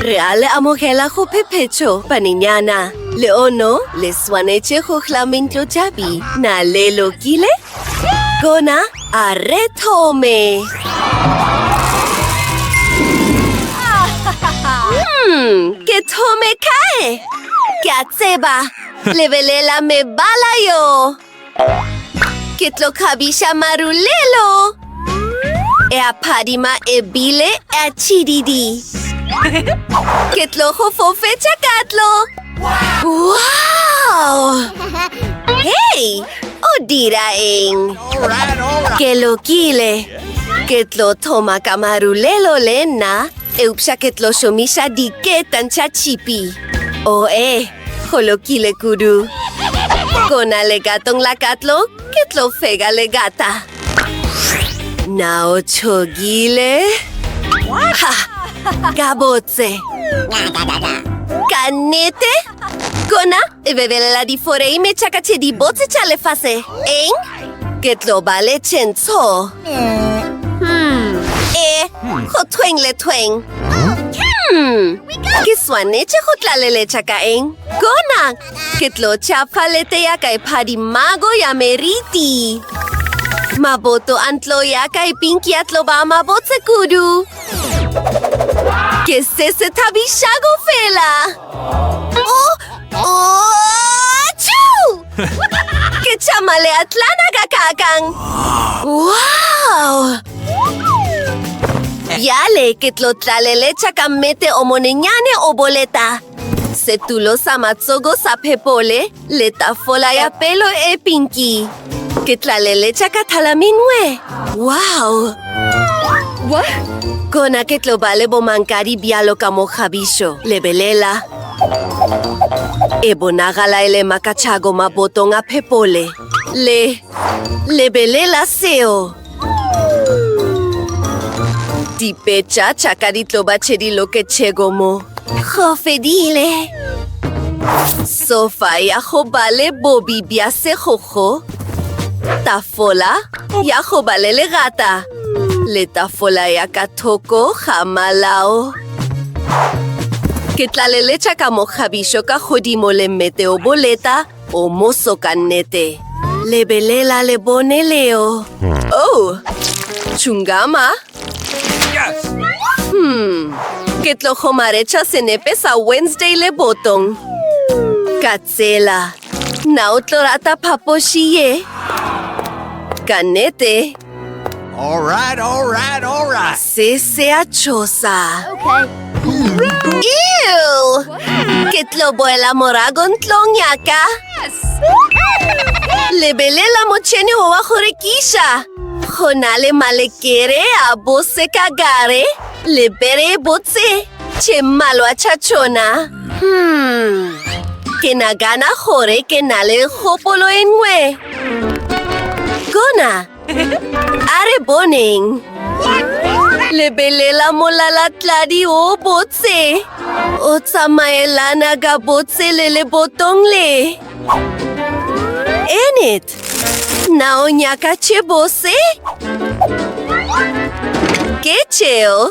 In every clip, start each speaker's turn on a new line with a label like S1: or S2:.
S1: Re a le amogela go phephetšo, banenyana. Leono le swanetše go hla mentlotšabi. Na le lokile? Kona a re thome. Hmm, ke thome kae? Ke a tseba. Lebelela mebala yo. Ke tlo kgabiša marulelo. E a phadima ebile e a tšhididi. Ke tlo go fofetša katlo. Wow! Hei! O dira eng? Ke lokile. Ke tlo thoma ka marulelo le nna. Eupša ke tlo šomiša diketantšha tšhipi. Oe! Go lokile kudu. Go na le gatong la katlo, ke tlo fega le gata. Na o tšhogile? Ha! Ka botse! Ka nnete? Gona e bebelela diforeime tša ka tše dibotse tša lefase, eng? Ke tlo ba le tšentsho. Hmm. E, go thweng le thweng. Hmm. Ke swanetše go tlaleletša ka eng? Gona! Ke tlo tšha palete ya ka e phadimago ya meriti. Maboto a ntlo ya ka e pinki ya tlo ba mabotse kudu. Ke se se thabišago fela. Oh! Oh! Ke tšama leatlana ka kakang. Wow! Bjale ke tlo tlaleletša ka mmete o monenyane o boleta. Setulo sa matsogo sa phepole le tafola ya pelo e pinki. Ke tlaleletša ka thalaminwe. Wow! What? Kona ke tlo ba le bomankadi bjalo ka mokgabišo. Lebelela. E bonagala e le makachago mabotong a phepole. Le... lebelela seo! Dipetša tša ka di tlo ba tše di loketšego mo. Go fedile! Sofa ya go ba le bobi bja segogo. Tafola ya go ba le legata. Le tafola ya ka thoko ga malao. Ke tla leletša ka mokgabišo ka godimo le mmete o boleta o moso ka nnete. Lebelela le bone leo. Oh, tšungama. Hmm, ke tlo kgomaretša senepe sa Wednesday le botong. Tsela, na o tlo rata phapoši ye? Ka nete. All right, all right, all right. Se se a tšhosa. Okay. Ew! Ke tlo boela morago ntlong ya ka. Lebelela motšhene o wa go rekiša. Go na le malekere a bose ka gare le bere e botse. Tše mmalwa tša tšona. Hmm. Ke nagana gore ke na le kgopolo e nngwe. Gona, a re boneng. Lebelela molalatladi o botse. O tsamaelana ka botse le lebotong le. Enid, Na o nyaka tšhebose? Ke tšeo.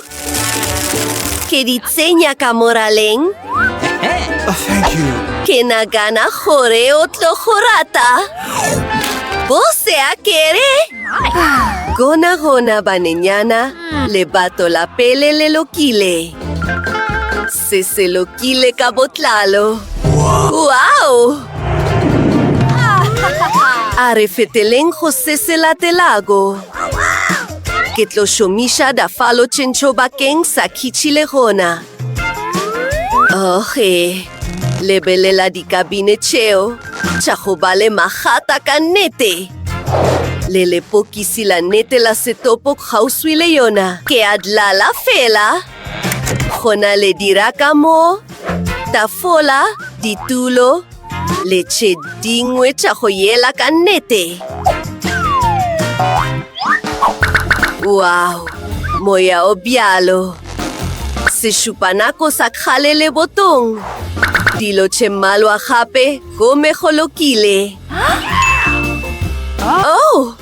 S1: Ke di tsenya ka moraleng. Oh, thank you. Ke nagana gore o tlo go rata. Bose a kere. Gona gona banenyana, lebato la pele le lokile. Se se lokile ka botlalo. Wow! A re feteleng go se se latelago. Ke tlo šomiša dafalo tšentšho bakeng sa khitšhile gona. Oge, lebelela dikabine tšeo tša go ba le magata ka nnete. Le lepokisi la nnete la setopo kgauswi le yona. Ke a dlala fela. Go na le dirakamo, tafola, ditulo le tše dingwe tša go yela ka nnete. Wow! Moya o bjalo! Sešupanako sa kgale le botong. Dilo tše mmalwa gape gomme go lokile. Oh!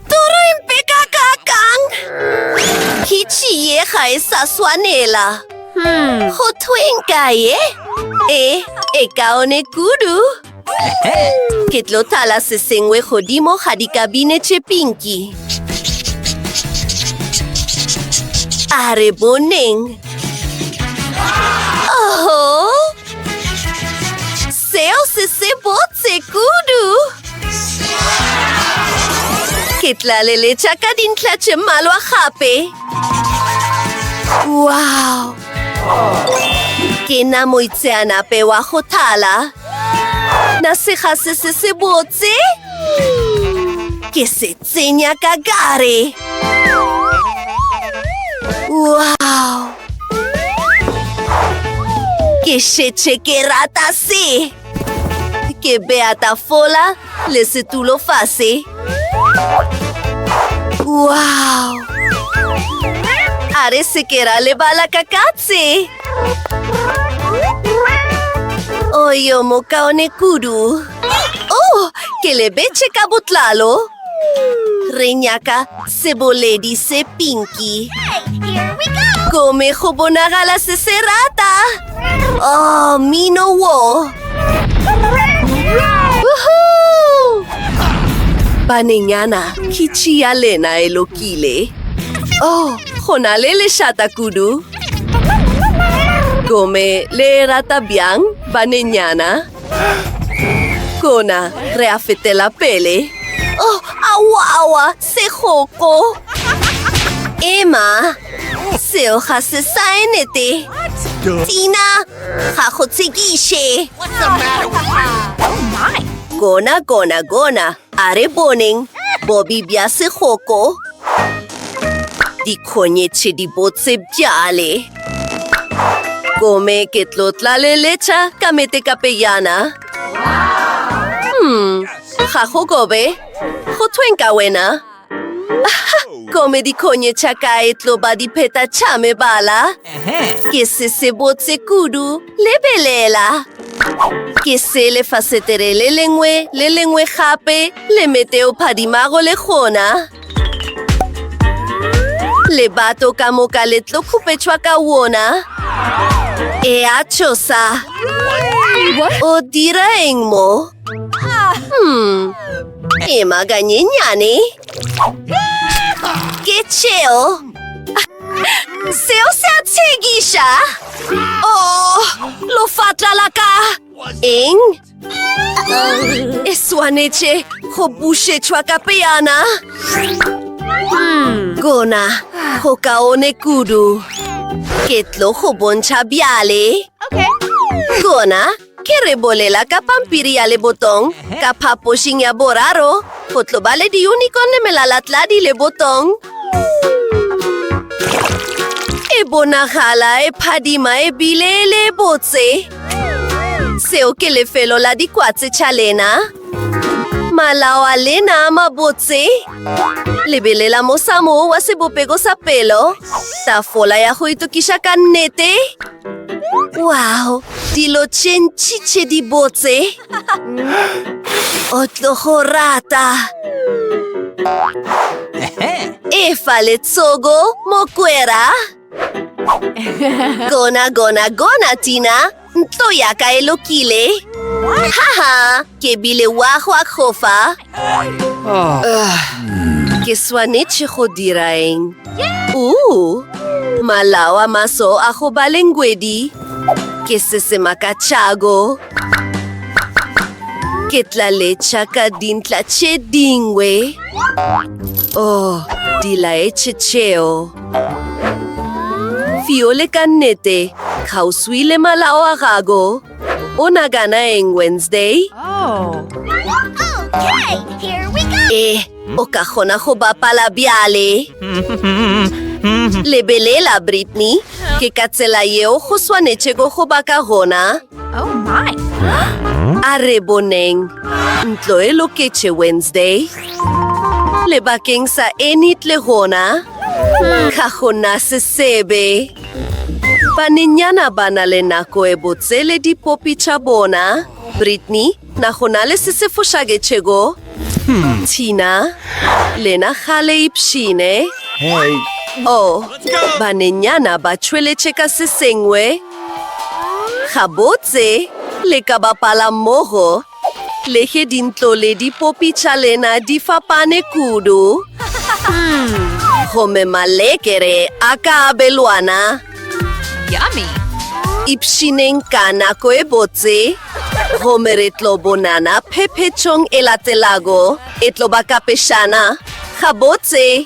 S1: Toro e mpe ka ka kang? Hitši ye ga e sa swanela. Hmm. Go thweng ka ye? E, e kaone kudu. Ke tlo thala se sengwe godimo ga dikabine tše pinki. A re boneng. Oho! Seo se sebotse kudu! Ke tla leletša ka dintlha tše mmalwa gape. Wow! Ke na moitseanape wa go thala. Na sega se se sebotse? Ke se Tsenya ka gare. Wow! Ke šetše ke rata se. Ke bea tafola le setulo fase. Wow! A re se ke ra lebala ka katse. Oyo mokaone kudu. Oh, ke lebetše ka botlalo. Re nyaka seboledi se pinki. Gome go bonagala se se rata. Oh, mino wo. Banenyana, ke tšia lena e lokile. Oh, go na le lešata kudu. Gome le rata bjang, banenyana? Kona, re a fetela pele. Oh, awa, awa, segoko. Ema, seo ga se saenete. Tina, ga go tshekiše. Kona, kona, kona. A re boneng bobi bja segoko. Dikgonyetše dibotse bjale. Gomme ke tlo tlaleletša ka metekape yana. Ga go gobe. Go thweng ka wena? Kome dikhonye tša ka e tlo ba dipheta tša mebala. Ke se se botse kudu. Lebelela! Ke se lefasetere le lengwe le lengwe gape le mete o phadimago le gona. Lebato ka moka le tlo khupetšwa ka wona. E a tšhosa. O dira eng mo? Hmm. Ema ganyenyane. Ke tšeo. Seo se a tshegiša. Oh, lofatla la ka. Eng? E swanetše go bušetšwa ka peyana. Hmm. Gona, go kaone kudu. Ke tlo go bontšha bjale. Gona, Ke re bolela ka pampiri ya lebotong, ka phapošing ya boraro, go tlo ba le diunicorn le melalatladi lebotong. E bonagala e phadima e bile e le botse. Seo ke lefelo la dikwatse tša lena. Malao a lena a mabotse. Lebelela mosamo wa sebopego sa pelo. Tafola ya go itokiša ka nnete. Wow, dilo tše ntši tše di botse. O tlo go rata. Efa letsogo, mokwera. Gona, gona, gona, Tina. Ntlo ya ka e lokile. Haha, ke bile wa go akgofa. Ke swanetše go dira eng? Uu, malao a maso a go ba le ngwedi. Ke se se makatšago. Ke tla letša ka dintla tše dingwe. Oh, di laetše tšeo. Fiole ka nnete, kgauswi le malao a gago. O nagana eng Wednesday? Oh. Okay, here we go. Eh, o ka kgona go bapala bjale. Lebelela, Brittany. Ke ka tsela yeo go swanetšego go ba ka gona. Oh my. A re boneng. Ntlo e loketše Wednesday. Lebakeng sa Enid le gona. Ga gona sesebe. Banenyana ba na le nako e botse le dipopi tša bona. Brittany, Na go na le se se fošaketšego? Tina, Lena ga le ipshine. Oh, banenyana ba tšweletše ka se sengwe. Gabotse, le ka bapala mmogo. Le ge dintlo le dipopi tša lena di fapane kudu, gomme malekere a ka abelwana, ipshineng ka nako e botse, gomme re tlo bonana phephetšong e latelago. E tlo ba ka pešana. Gabotse!